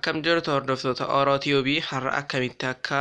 Akkam jirtu hordoftoota Oro Tube har'a akkamitti akka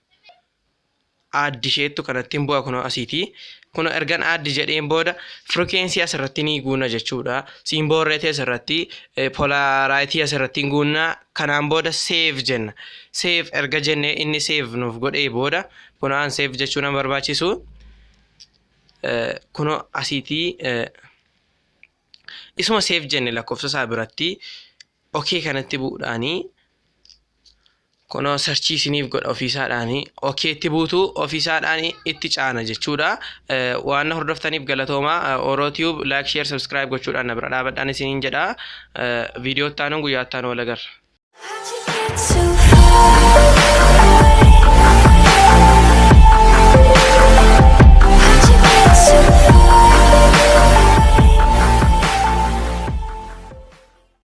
add isheettu kanattiin bu'a kunoo asiiti. Kun ergan add jedheen booda frequency asirratti ni guuna jechuudha. Symbol rate asirratti polarity asirratti guunna kanaan booda save jenna. Save erga jennee inni save nuuf godhee booda kunoo an save jechuu nan barbaachisu. Kunoo asiiti isuma save jenne lakkoofsa isaa biratti ok kanatti bu'uudhaani kunoo sarchii isiniif godha ofiisaadhaani ok itti buutu ofiisaadhaani itti caana jechuudha Eh, waan na hordoftaniif galatooma oro tube like share subscribe gochuudhaan na bira dhaabadhaan isiniin jedha Eh, viidiyoo itti aanuun guyyaa itti aanu wal agarra How'd you get so